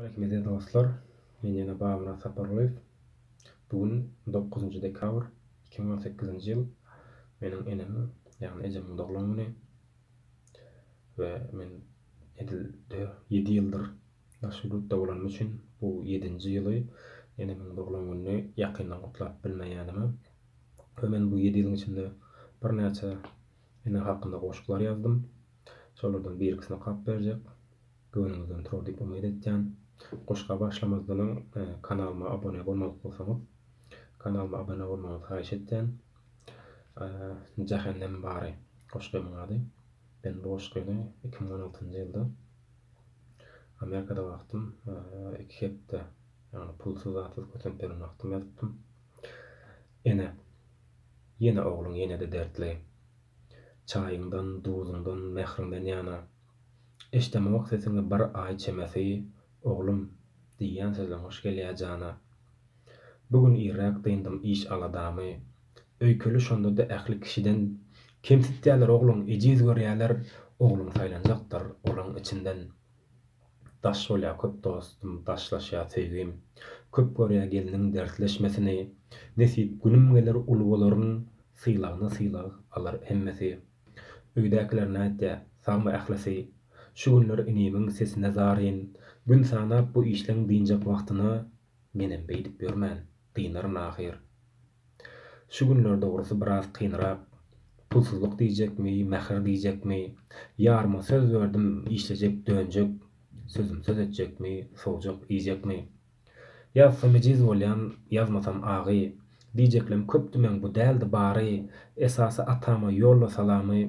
Rahmet dostlar men ýene Babamyrat Sapargulyýew bu gün dokuzynjy dekabr iki müň on sekizinji ýyl meniň enemiň ýagny ejemiň doglan güni we men edil ýedi ýyldyr daşary ýurtda bolanym üçin bu ýedinji ýyly enemiň doglan gününi ýakyndan gutlap bilmeýänime we men bu ýedi ýylyň içinde birnäçe enem hakynda goşglar ýazdym şolardan birikisini okap berjek. Göwnüňizden turar diýip umyt etýän. Goşga başlamazdanam kanalyma abone bolmadyk bolsaňyz kanalyma abone bolmagyňyzy haýyş etýän. Jähennem bary goşgymyň ady. Men bu goşgyny iki müň on altynjy ýylda Amerikada wagtym iki hepde ýagny pulsyz zatsyz kösenip ýören wagtym ýazypdym. Ene, ýene ogluň ýenede dertli. Çaýyňdan, duzuňdan, mähriňden ýana Eşdemok sesiňi bir aý çemesi, oglum, diýýän sözleň hoş gelýä jana. Bu gün irräk dyndym iş aladamy. Öýkeli şondada ähli kişiden kemsitýäler ogluň ejiz görýäler ogluň saýlanjakdyr olaň içinden. Daş bolýa köp dostum daşlaşýa söýgim. Köp görýä gelniň dertleşmesini. Nesip günüm geler uly bolaryn sylagyna sylag alar hemmesi. Öýdäkiler nätdi? Sagmy ählisi? Şu günler inimiň sesine zaryn. Gün sanap bu işleň dynjak wagtyna menem beýdip ýörmän, dynaryn ahyr. Şu günler dogrusy biraz kynrak. Pulsuzlyk diýjekmi, mähir diýjekmi? Ýaryma söz berdim, işlejek, dönjek. Sözüm söz etjekmi, sowjak, iýjekmi? Ýazsam ejiz bolýan ýazmasam agy Diýjeklem köp diýmäň bu däldi bary Esasy atama ýolla salamy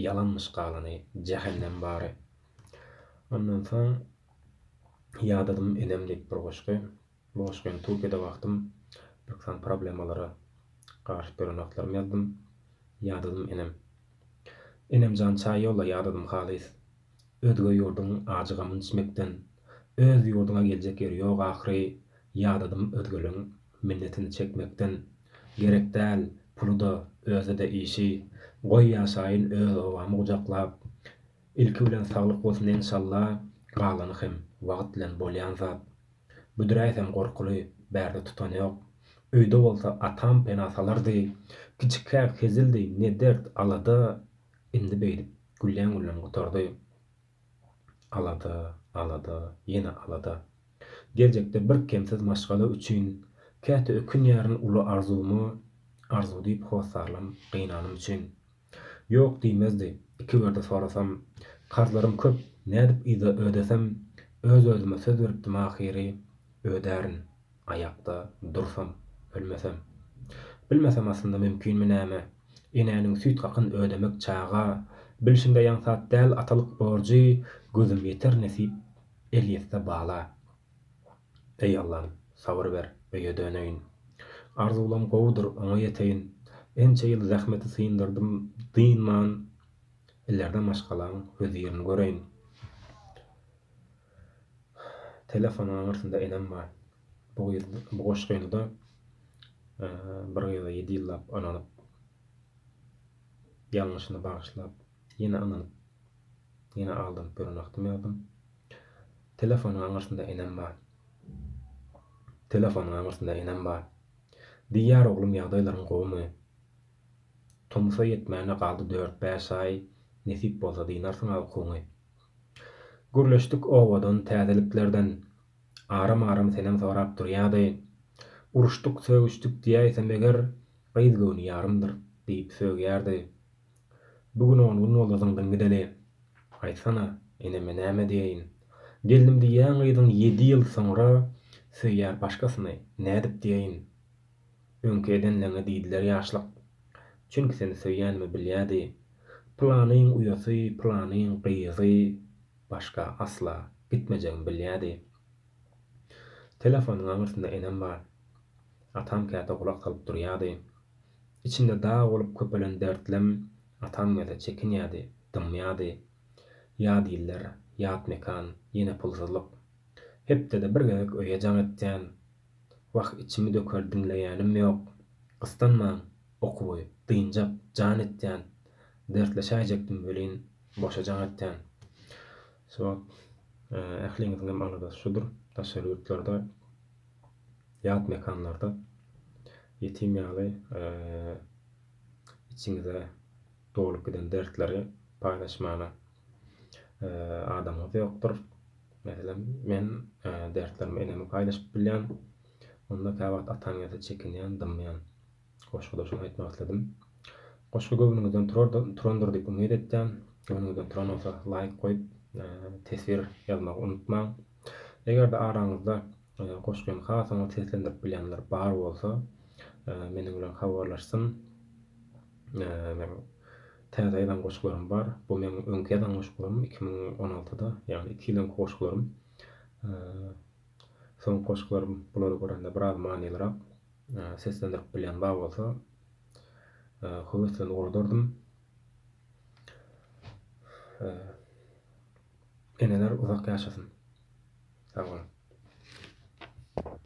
Ýalanmyş galany jähennem bary Ondan soň Ýadadym enem diýip bir goşgy Bu goşgy hem Türkiýede wagtym birki sany problemalara garyşyp ýören wagtlarym ýazdym Ýadadym enem Enemjan çaý ýolla ýadadym halys Özge ýurduň ajy gamyny içmekden Öz ýurduňa geljek ýeri ýok ahyry Ýadadym özgeleň minnetini çekmekden Gerek däl puly-da, özi-de işi Goý ýaşaýyn öz obamy gujaklap Ilki bilen saglyk bolsun enşalla Galany hem wagt bilen bolýan zat Büdräýsem gorkuly bärde tutan ýok Öýde bolsa atam pena salardy Kiçikäk hezildi ne dert alada Indi beýdip gülläň-gülläň gutardy. Alada, alada, ýene alada. Geljekde birkemsiz maşgala üçin käte ökünýärin uly arzuwyma arzuw diýip hossarlam gynanym üçin. Ýok diýmezdi, iki gerdi sorasam. Karzlarym köp, nädip yza ödesem, öz-özüme söz beripdim ahyry, ödärin. Aýakda dursam, ölmesem. Bilmesem aslynda mümkinmi näme, Enäniň süýt hakyn ödemek çaga, Bilşimde ýaňsat däl atalyk borjy, Gözüm ýeter nesip, el ýetse bala. Eý Allam, sabyr ber, öýe döneýin. Arzuwlam gowudyr, oňa ýeteýin. Ençe ýyl zähmeti syndyrdym dynman, Ilerde maşgalaň hözirin göreýin. Telefonyň aňyrsynda enem bar. Bu gyz bu goşgyny-da bir gyza ýedi ýyllap ynanyp, ýalňyşyny bagyşlap, ýene ynanyp, ýene aldanyp ýören wagtym ýazdym. Telefonyň aňyrsynda enem bar. Telefonyň aňyrsynda enem bar. Diýýär oglum ýagdaýlaryň gowumy? Tomusa ýetmäne galdy dört-bäş aý, nesip bolsa dynarsyň-a ukuňy. Gürleşdik owadan täzeliklerden, Aram-aram senem sorap durýady. Uruşdyk, sögüşdik diýäýsem eger, Gyz göwni ýarymdyr, diýip sögýärdi. Bu gün on gün boldy zyňdyn gideli. Aýtsana, eneme näme diýeýin? Gelnim diýýän gyzyň ýedi ýyl soňra söýýär başgasyny, nädip diýeýin? Öňki edenleňe diýdiler ýaşlyk. Çünki seni söýýänimi bilýädi. Pylanyň uýasy, pylanyň gyzy başga asla gitmejegimi bilýädi. Telefonyň aňyrsynda enem bar. Atam käte gulak salyp durýardy. Içinde dag bolup köpelen dertlem atam gelse çekinýärdi, dymýardy. Ýat iller, ýat mekan, ýene pulsuzlyk. Hepdede bir gezek öýe jaň etýän, Wah içimi döker diňleýänim ýok gyssanmaň okuwy dynjak jan etýän dertleşäýjekdim welin boşa jaň etýän Swap ähliňiziňem aladasy şudur daşary ýurtlarda ýat mekanlarda ýetim ýaly içiňize dolup giden dertleri paýlaşmana adamyňyz ýokdur. Meselem, men dertlerimi eneme paýlaşyp bilýän. Onda käwagt ataň ýa-da çekinýän, dymýan. Goşguda şuny aýtmak isledim. Goşgy göwnüňizden turandyr diýip umyt etýän. Göwnüňizden turan bolsa laýk goýup, teswir ýazmagy unutmaň. Eger-de araňyzda goşgyny has oňat seslendirip bilýänler bar bolsa, meniň bilen habarlaşsyn. Täze ýazan goşgularym bar. Bu meň öňki ýazan goşgularym iki müň on altyda, ýagny iki ýyl öňki goşgularym. Soňky goşgularym bulary görende biraz manylyrak seslendirip bilýän bar bolsa, höweslenip oladardym. Eneler uzak ýaşasyn! Sag boluň!